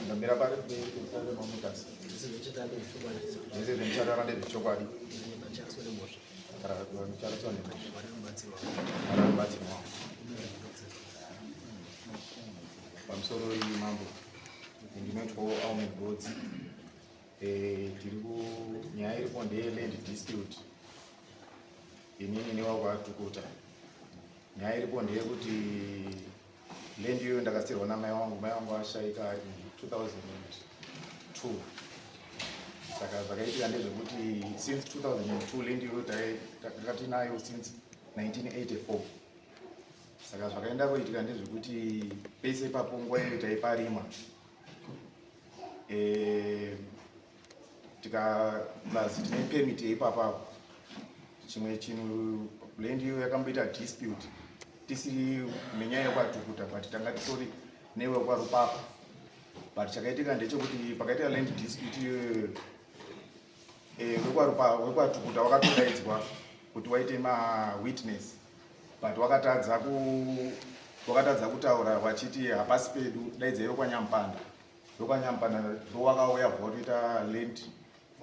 ndamira pari kutanda mamutasa zvese zvemutandara ndezvechokwadi vanochariswa nemhosva vanobatsirwa pamusoro iyi mambo ndinoitwawo almond roads eh, tiri kunyaya iripo ndeyeland dispute inini newakwaatukuta nyaya iripo ndeyekuti Land iyoyo ndakasiirwa namai wangu, mai wangu ashaika ari 2002 saka zvakaitika ndezvekuti since 2002 land iyoyo takatinayo since 1984 saka zvakaenda kuitika ndezvekuti pese ipapo nguva iyo taiparima e, eh, tikaplazi tine permit yeipapapo chimwe chinhu land iyo yakamboita dispute tisiri nenyaya yekwatukuta but tanga titori newe kwarupapa but chakaitika ndechekuti pakaitika land dispute iyoyo eh, wekwatukuta wakatodaidzwa kuti waite mawitness but wakatadza wakatadza kutaura wachiti hapasi pedu daidzaiwe kwanyampanda ndokwanyambana ndowakauya bva watoita land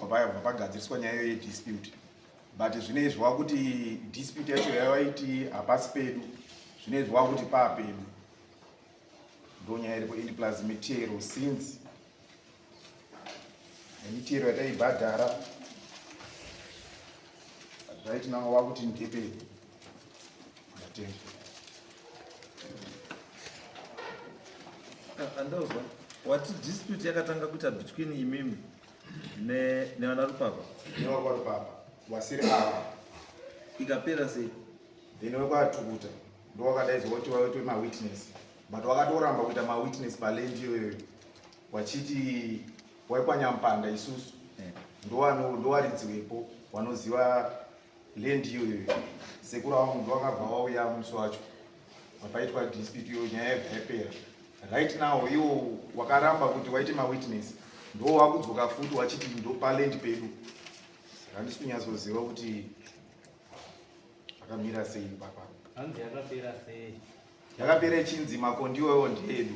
vapagadziriswa nyaya iyo yedispute but zvinoizvi wakuti dispute yacho yavaiti hapasi pedu zvinoizvi wakuti paa pedu ndonyaya iripo indi plus mitero since nemitero yataibhadhara zvaitinanga wakuti ndepedu andozwa wati dispute yakatanga kuita between imimi nevana rupapa nevakwa rupapa vasiri ava ikapera sei then wekwatukuta ndowakadaidzwa kuti waitwe mawitness but wakatoramba kuita mawitness palendi iyoyoyo wachiti waikwanyampanda isusu eh. ndowaridziwepo wanoziva land iyo iyo sekuru avo munhu vakabva vauya musi wacho vapaitwa dispute iyo nyaya yabva yapera right now iwo wakaramba kuti waite mawitness ndo wakudzoka futi wachiti ndo palendi pedu saka handisi kunyatsoziva kuti akamira sei papa hanzi yakapera sei yakapera ichinzi makondiwewo ndeedu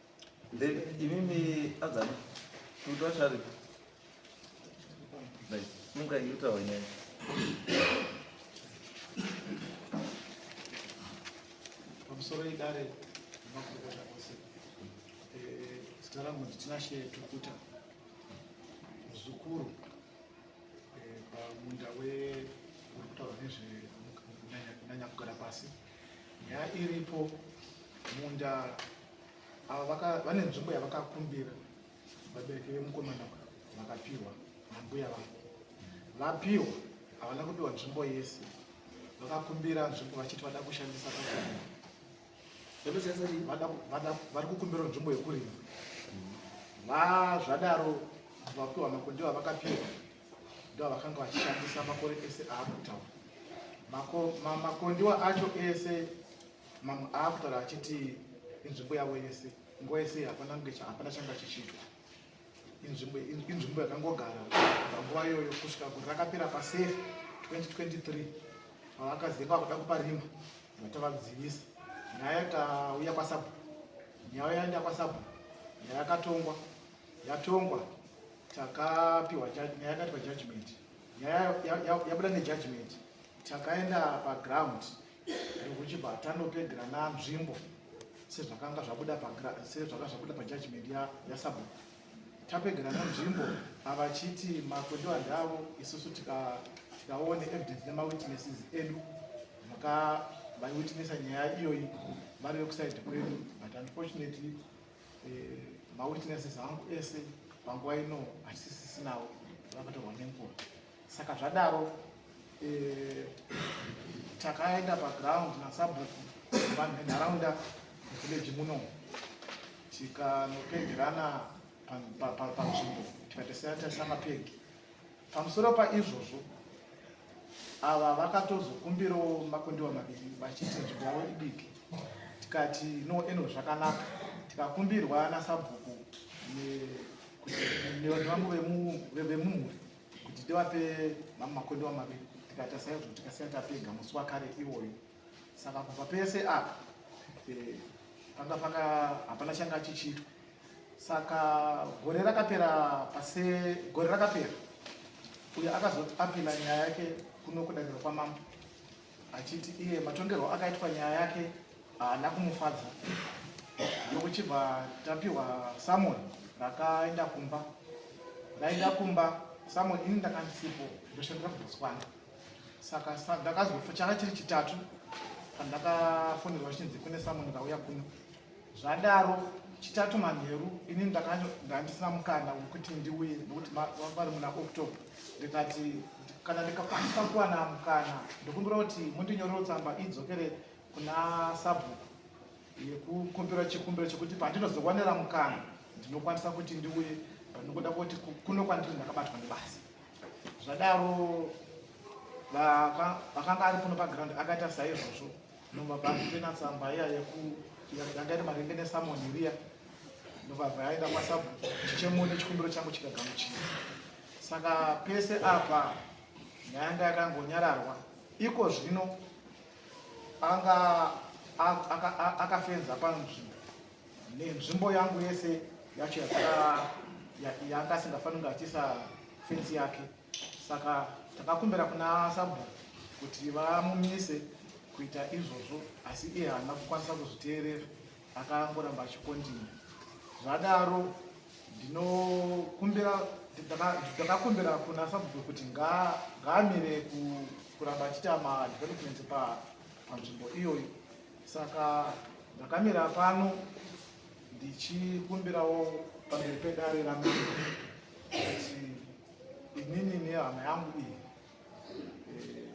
Then imimi adzana kuti wachari like simuka yuta wenene pamusoro idare remakurukota ose eh, zita rangu nditinashe tukuta muzukuru eh, pamunda wekurikutaura nezvekunanya kugara pasi nyaya iripo munda ava vane nzvimbo yavakakumbira vabereki vemukomana vakapihwa nambuya vavo vapihwa havana kupihwa nzvimbo yese vakakumbira nzvimbo vachiti vada kushandisa vari kukumbira nzvimbo yekurima vazvadaro vapihwa makondiwa vakapihwa ndovakanga vachishandisa makore ese aakutaura makondiwa acho ese mamwe aakutaura achiti inzvimbo yavo yese nguva yese hapana kunge hapana changa chichitwa inzvimbo yakangogara panguva iyoyo kusvika kuti rakapera pasefi 2023 avakaziva kuda kupa rima vatavadzivisa nyaya yakauya kwasabu nyaya yaenda kwasabu nyaya yakatongwa yatongwa takapiwa nyaya yakatiwa judgment nyaya yabuda nejudgment takaenda paground rekuchibva tanopedera nanzvimbo sezvakanga zvabuda sezvakanga zvabuda pajudgment yasabhuku tapedera nanzvimbo avachiti makwendewa ndavo isusu tikaone evidence nemawitnesses edu maka vaiwitnessa nyaya iyoyi vari vekuside kwedu but unfortunately Eh, mawitnesses angu ese panguva ino hatisisinawo vakatorwa nenguva saka zvadaro eh, takaenda paground nasabhuku vanhu venharaunda village muno tikanopegerana panzvimbo tikatesana tasama pegi Pamusoro paizvozvo, ava vakatozokumbirawo makundiwa maviri vachiti nzvimbo yavo idiki tikati no eno zvakanaka tikakumbirwa nasabhuku nevambo vemumhuri kuti tivape makondiwa maviri tikatasaizvo tikasiya tapega musi wakare iwoyo saka kubva pese apa eh, panga paka hapana changa achichiitwa saka gore rakapera pase gore rakapera uyo akazoti apila nyaya yake kuno kudaniro kwamambo achiti iye matongerwo akaitwa nyaya yake haana kumufadza yokuchibva tapiwa samon rakaenda kumba raenda kumba samon ini ndakandisipo ndoshandira kubotswana saka ndakazofa changa chiri chitatu pandakafonerwa chinzi kune samoni vauya kuno zvadaro chitatu manheru ini ndandisina mukana wekuti ndiuye nekuti vari muna october ndikati kana ndikakwanisa kuwana mukana ndikumbira kuti mundinyorero tsamba idzokere kuna sabhuku yekukumbira chikumbiro chekuti pandinozowanira mukana ndinokwanisa kuti ndiuye panokuda kuti kuno kwandiri ndakabatwa nebasa zvadaro vakanga ari kuno paground akaita saizvozvo ndobva vaitena tsamba iya yanga iri maringe nesamoni riya ndobva vaenda kwasabhuku chichemoni chikumbiro changu chikagamuchira saka pese apa ndayanga yakangonyararwa iko zvino anga akafenza panzvimbo nenzvimbo yangu yese yacho yanga asingafaniri kunge achiisa fensi yake saka takakumbira kuna sabhuku kuti vamumise kuita izvozvo asi iye haana kukwanisa kuzviteerera akangoramba achikondinya zvadaro ndinokumbira ndakakumbira kuna sabhuku kuti ngaamire kuramba achiita madevelopments panzvimbo iyoyi saka ndakamira pano ndichikumbirawo pamberi pedare ramambo kuti inini nehama yangu iyi eh,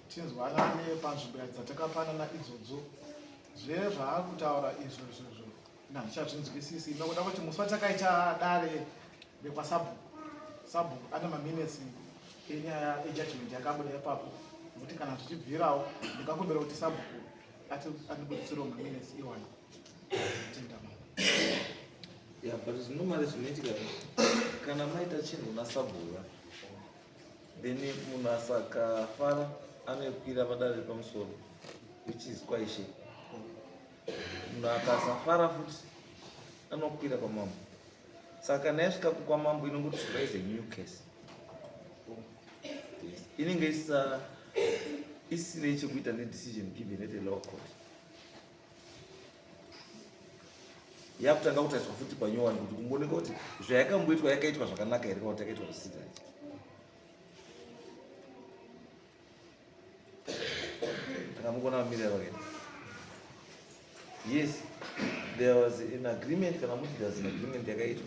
tinzwanane panzvimbo dzatakapanana idzodzo zve zvaakutaura izvo izvozvo ndandichatvinzwisisi nokuda kuti musi watakaita dare rekwasabhuku sabhuku ane maminutes enyaya ejudgment yakabuda ipapo nokuti kana zvichibvirawo ndingakumbira kuti sabhuku andibuditsirewo maminutes iwani ya but zvinomari zvinoitika kana maita chinhu nasabhura then munhu asakafara anokwira padare repamusoro which is kwaishe Munhu akasafara futi anokwira kwamambo. Saka kana yasvika kwamambo inongoti raise a new case. Yes. Inenge isa isine chekuita nedecision given at a lower court. yakutanga kutariswa futi panyowani kuti kumbooneka kuti zvayakamboitwa yakaitwa zvakanaka here kana kuti yakaitwa zvisina takamukona vamirira vakaita yes there was an agreement kana muti there's an agreement yakaitwa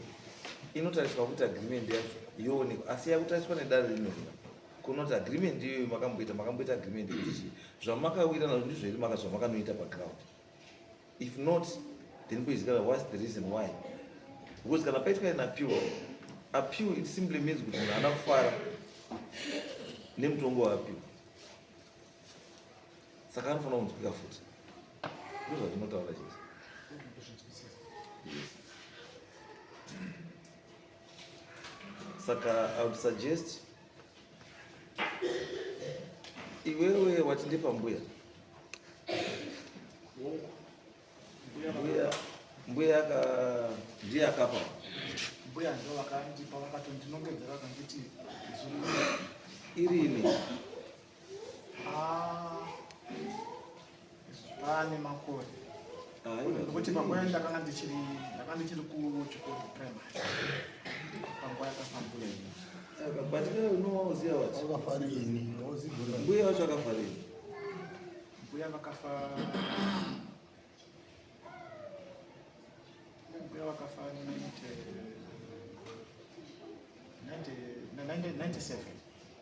inotariswa kuti agreement yacho yoonekwa asi yakutariswa nedare rinona kunoti agreement iyoyo makamboita makamboita agreement yekuti zvamakawira nazvo ndizvo here maka zvamakanoita paground if not then kuizikana whats the reason why because kana paitwa an appeal appeal it simply means kuti munhu ana kufara nemutongo waappeal saka anofanira kunzwika futi ndozvatinotaura chese saka i would suggest Iwewe wati ndipa mbuya mbuya mbuya ka ndiye akapa mbuya ndo vakandipa vakatondinongedzera vakanditi irini Ah, pane makore nekuti panguva ndakanga ndichiri ndakanga ndichiri kuchikoro primary panguva yakafambura ini but iwe unowa uziva wati wakafara ini mbuya wacho akafara ini mbuya vakafa mbuya vakafa 97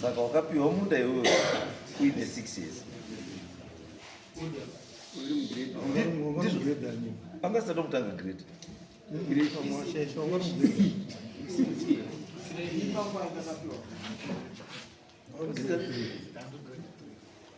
Saka wakapiwa munda iwewe uine six years anga asati kutanga grade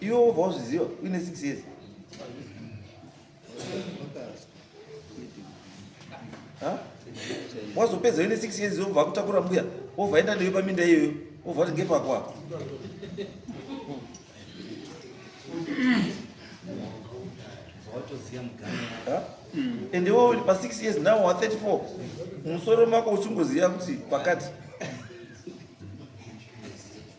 Iwe wobva wazviziva uine six years. Wazopedza uine six years wobva akutakura mbuya wobva enda newe paminda iyoyo wobva kuti ngepako apo. And iwe uri pa six years now wa 34 musoro mako uchingoziva kuti pakati.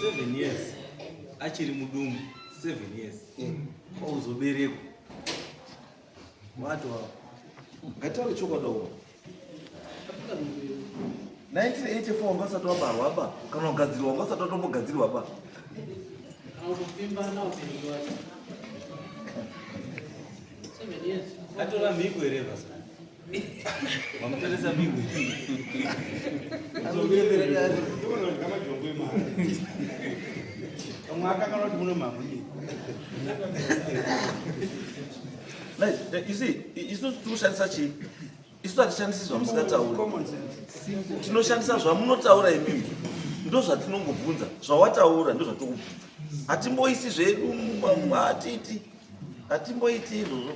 seven years achiri mudumbu seven years kwauzoberekwa watoa ngataure chokwadi 1984 wanga usati wabarwa ba kana kugadzirwa wanga usati watombogadzirwa ba atora mhiko here basa vamutoresa mhiko mwaka kana kuti muno mamunyi isusu tinoshandisa chii isu hatishandisi zvamusingatauri tinoshandisa zvamunotaura imimi ndozvatinongobvunza zvawataura ndozvatokubvunza hatimboisi zvedu hatiti hatimboiti izvozvo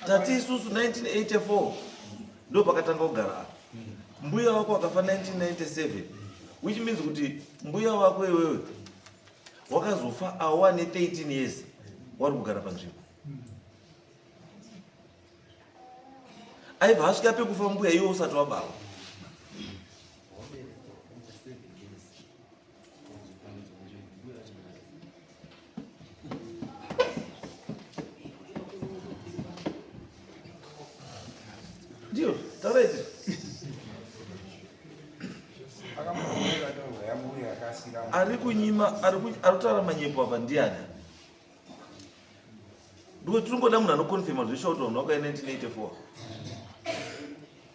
tati isusu 1984 ndo pakatanga kugara apa mbuya wako wakafa 1997 which means kuti mbuya wako iwewe wakazofa awa ne 13 years wari kugara panzvimbo aibva asvika pekufa mbuya iwe usati wabawa Ndio, tawezi. Ari kunyima, ari kutaura manyepo apa ndiani? Ndiko tiri ngoda munhu anokonfirma zveshoto unoka 1984.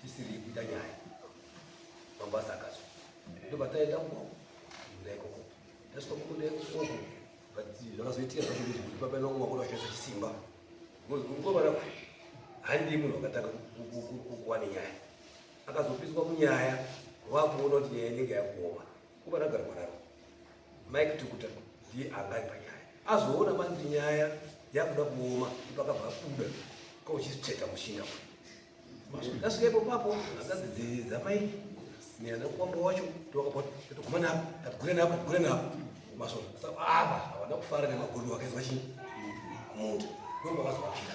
tisiri kuita nyaya mabasa akazo ndobva taenda kuoko kuda ikoko tasvika kukuda ikoko but zvakazoitika zvacho kuti kuti papaina kunga kuda zvese chisimba because kungovana kuti handii munhu akatanga kuwane nyaya akazopiswa munyaya vakuona kuti nyaya inenge yakuoma Kuba ragara kwararo. Mike Tukuta ndiye angai panyaya. Azoona manje nyaya yakuda kuoma ipaka vakuda kwa uchisipseta mushinga. That's why papo akazi dzamai ni ana kwambo wacho tokapota tokumana hapo takugure napo kugure napo masoro sasa hapa hawana kufara na magulu wakaizwa chini kumuta ndio baba zwa kila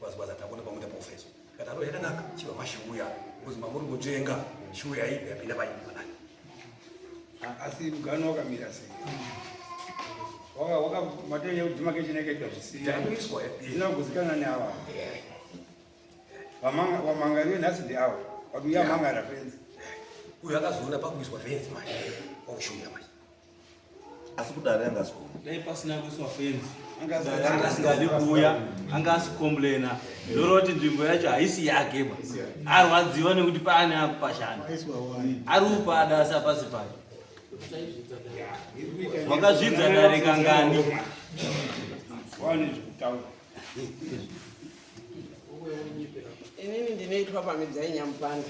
kwazikwaza takuona pamwe tapofeso kataro yakanaka chiva mashuya kuzi mamuri kujenga shuya ipi yapinda paimana asi mugano wakamira sei waka waka matei yekudima kechineketwa zvisiyaiiswa zvinoguzikana neava vamangarie nhasi ndiavo vakuya mangara fenzi uyo akazoona pakuiswa fenzi manje wakushuya manje asi kudare anga asikuuya dai pasina kuiswa fenzi anga asingadi kuuya anga asikomblena ndinoona kuti nzvimbo yacho haisi yake ba arwadziwa nekuti paane akupashana ari upada asi apasi pake wakazvidza dare kangani inini ndinoitwa pamidza yenyamupanda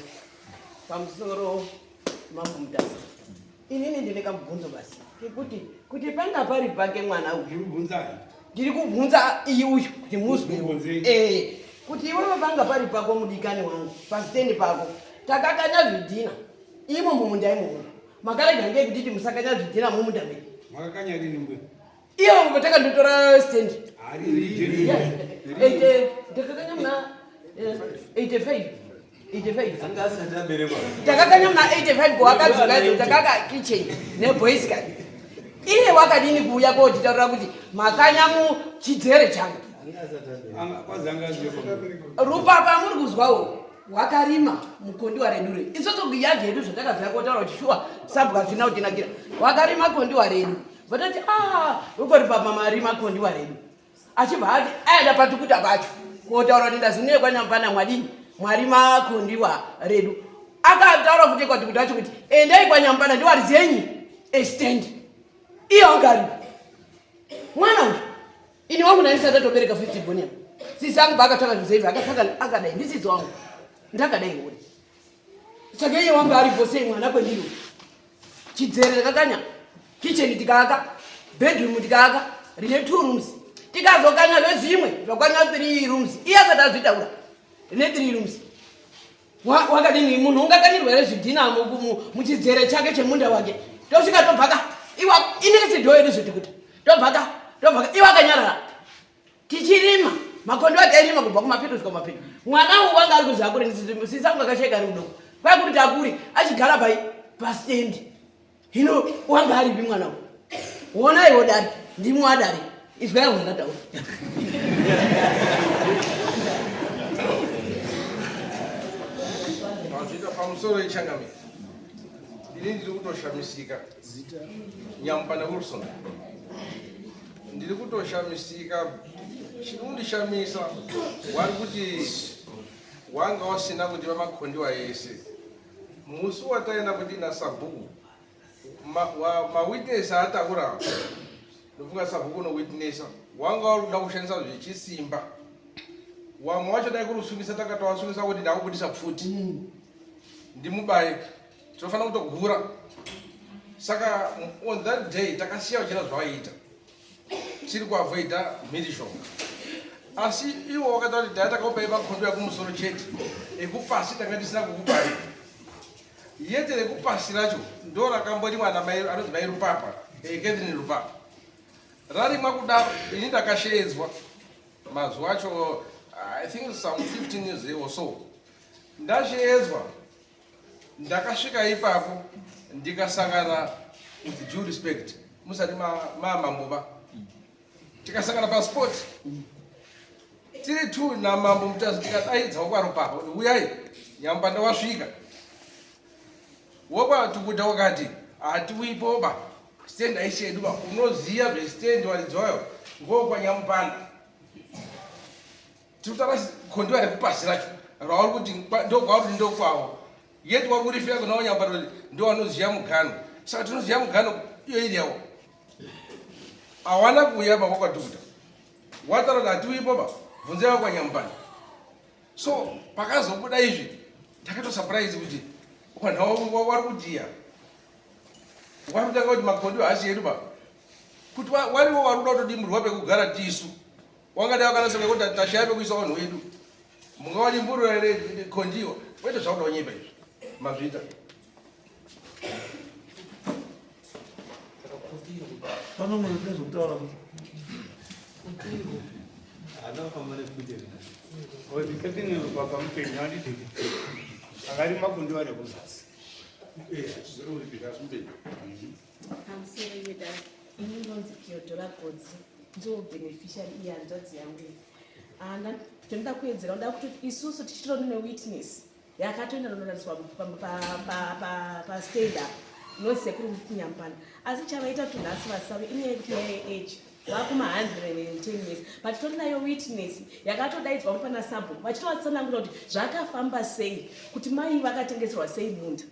pamusoro Mambo Mutasa. Inini ndine kamubvunzo basi. Kekuti kuti panga pari pake mwana uyu. Ndiri kubvunza. Ndiri kubvunza iyi uyu kuti muzwe. Eh. Kuti iwe panga pari pako mudikani wangu pasitendi pako. Takakanya zvidhina. Imo mumunda imomo. Makarega ngekuti musakanya zvidhina mumunda medu. Makakanya rini ngwe? Iyo ngoma takandotora stand. Ari ri. Ete ndakakanya mna 85. 85. Anga asati aberekwa. Takakanya mna 85 kwa akadzoka takaka kitchen ne boys guy. Iye wakadini kuuya kotitaurira kuti makanya mu chidzere changu. Anga asati aberekwa. Anga kwanza anga asati aberekwa. Rupa pamuri kuzwawo wakarima mukondiwa redu redu isoso yadhi yedu zvatakaziva kotaura kuti shuwa sabwa zvina kutinakira wakarima kondiwa redu vatati ah, ukori pamamari makondiwa redu achibva ati aenda patukuta pacho kotaura kuti ndazinuye kwanyamupana mwadini mwari makondiwa redu akataura futi kwatukuta acho kuti endai kwanyamupana ndiwari dzenyi estand iyo angari mwana uyu ini wangu naisati atobereka fifty bonia sisi angu paakatanga zvizevi akatanga akadai ndisisi wangu ndakadai ngori saka iye wangu ari vose mwana kwendiri chidzero takakanya kicheni tikaaka bedroom tikaaka rine two rooms tikazokanya zvezvimwe zvakwana three rooms iye asati azvitaura rine three rooms wakadini munhu ungakanirwa here zvidhina muchidzere chake chemunda wake tosvika tobvaka iwa inenge sidhoyo ndizvoti kuti tobvaka tobvaka iwa akanyarara tichirima makondo ati airima kubva kumapeto svika kumapeto mwana uwu wanga ari kuzi akure ndisisa kunga kashaika ari kudoko kwai kuti takuri achigara pai pastendi hino wanga aripi mwana uwu wona iwo dari ndimi wadari izwai wandataura pamusoro ichangamire ini ndiri kutoshamisika nyamupana wilson ndiri kutoshamisika chinondishamisa wari kuti wanga wasina kuti vamakhondiwa yese musi wataenda kuti nasabhuku mawitness ma ataura ndofunga sabhuku unowitnessa wanga wari kuda kushandisa zvechisimba wamwe wacho dai kuri kusungisa takatowasungisa kuti ndakubudisa pfuti mm. ndimubaye tinofanira kutogura saka on that day takasiya vachita zvavaiita tiri kuavoida mhirizhonga asi iwo wakataura kuti daya takakupai makondo yakumusoro chete ekupasi tanga tisina kukupai yete rekupasi racho ndo rakamboti mwana anonzi mai rupapa eh, catherine rupapa rarimwa kudaro ini ndakasheedzwa mazuva acho i think some 15 years or so ndasheedzwa ndakasvika ipapo ndikasangana with due respect musati mamambo va tikasangana pasport tiri t namambo mutazi tikadaidza wokwaropapa kuti uyai nyambanda wasvika wokwatukuta wakati hatiuipoba stand aishedu ba unoziva zvestand waridzi wayo ngokwanyamupanda Tirikutaura gondiwa rekupasi racho rauri kuti ndokwauri ndokwawo yet wakurifira kuna wanyambarori ndowanoziva mugano saka tinoziva mugano iyo iri yawo hawana kuuya pa kwakwatukuta wataura kuti hatiuyi papa bvunza yavo kwanyambani so pakazobuda izvi ndakatosurprise kuti wanhu wari kudiya wari kutanga kuti makondiwo hasi yedu pa kuti wariwo wari kuda kutodimurwa pekugara tisu wangadai wakanasonga kuti tashaya pekuisa vanhu wedu mungawani mburura here kondiwa wete zvakuda kunyepa izvi mazvita pano mune zvekutaura kuti akarima kundiwa nekuzasi pamusoreyeda ini ndonzi theodora godzi ndiwo beneficiary iye hanzvadzi yangu ana tinoda kuedzera uda kuti isusu tichitoni newitness yakatoenda nonorariswa pastad apo inonzi sekuru nyambana asi chavaita kuti nhasi vasave inyaya yekuti yaye age vakuma 110 years but titori nayo witness yakatodaidzwa kupana sabhuku vachitovatsanangura kuti zvakafamba sei kuti mai vakatengeserwa sei munda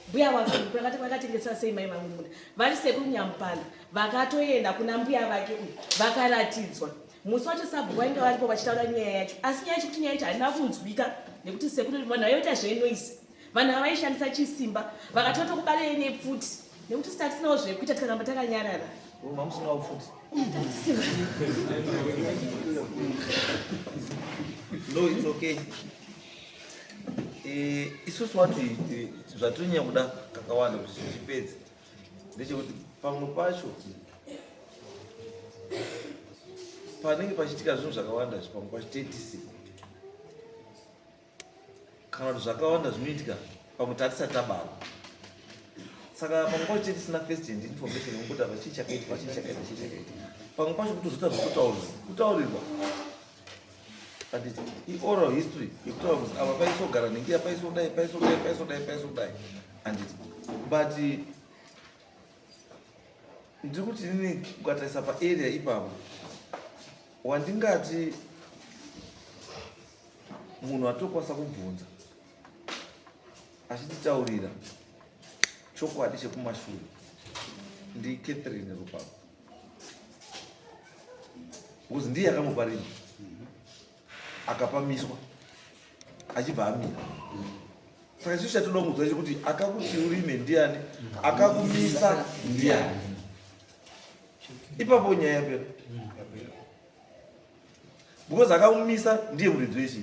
mbuya wake vakati vakatengesera sei mai vangu munda vari sekuru nyamupanda vakatoenda kuna mbuya vake uyu vakaratidzwa musi wacho sabhuku vainge varipo vachitaura nyaya yacho asi nyaya yacho kuti nyaya yacho haina kunzwika nekuti sekuru vanhu vaivaita zvenoise vanhu ava vaishandisa chisimba vakatoto kubarei nepfuti nekuti sita tisinawo zvekuita tikaramba takanyarara mamusinawo pfuti no it's okay Eh, isusu wati eh, zvatonyanya kuda kakawanda kuti tichipedze ndechekuti pamwe pacho panenge pachiitika zvinhu zvakawanda zvi pamwe pacho tetisi kana kuti zvakawanda zvinoitika pamwe tatisati tabarwa saka pamwe pacho tetisina first hand information yekuti apa chii chakaitika chii chakaitika chii chakaitika pamwe pacho kutozoita zvekutaurirwa kutaurirwa but ioral history yekutaura kuti ava paisogara ningira paisodai paisodai paisodai paisodai anditi but ndiri kuti inini ukatarisa paarea ipapo wandingati munhu atokwanisa kubvunza achititaurira chokwadi chekumashure ndicatherine rupapo because ndiye akamupa ringi akapamiswa achibva amira saka isu chatoda kunzwa icho kuti akakuti urime ndiani akakumisa ndiani ipapo nyaya yapera because akamumisa ndiye muridzi wechii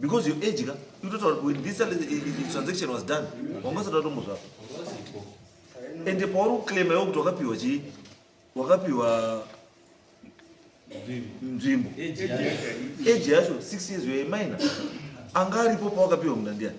because your age ka you total when this transaction was done wanga usati watombo zvapo and pauri kuclaima iwo kuti wakapiwa chii wakapiwa nzvimbo age yacho 6 years you're a minor anga aripo pawakapiwa munda ndiani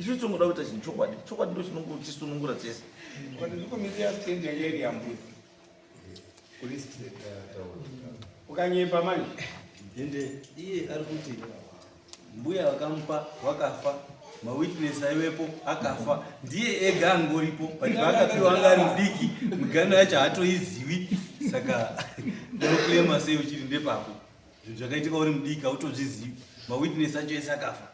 Isu tingoda kuita chinhu chokwadi. Chokwadi ndo chinongotisunungura tese. Ukanyepa manje. Ende iye ari kuti mbuya vakamupa wakafa mawitness aiwepo akafa ndiye ega angoripo but paakapiwa anga ari mudiki migano yacho haatoizivi saka ndinoclaima sei uchiri ndepapo Zvinhu zvakaitika uri mudiki hautozvizivi. Mawitness acho ese akafa.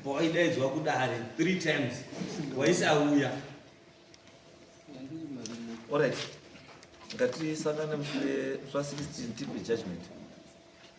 Pawaidaidzwa kudare three times waisauya. Alright. Ngatisangane mushure swa 16 tipe judgment.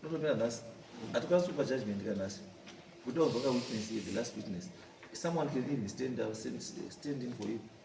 ndotomira nhasi hatikwanisi kupa judgment ka nhasi kuti wavaka witness the last witness someone can even stand, uh, stand, stand in for you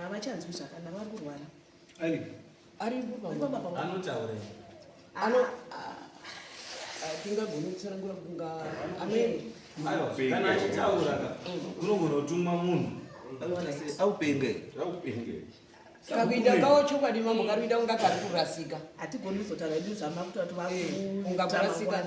havachanzwi zvakanaka vari kurwara aripanotaura tingagoni kutsanangura kunga amene kana achitaura unogona kutuma munhu aupenge aupenge kakuita kawo chokwadi mambo kari kuita kunga kari kurasika hatigoni kuzotaura idu zvamakuti vati vaunga kurasika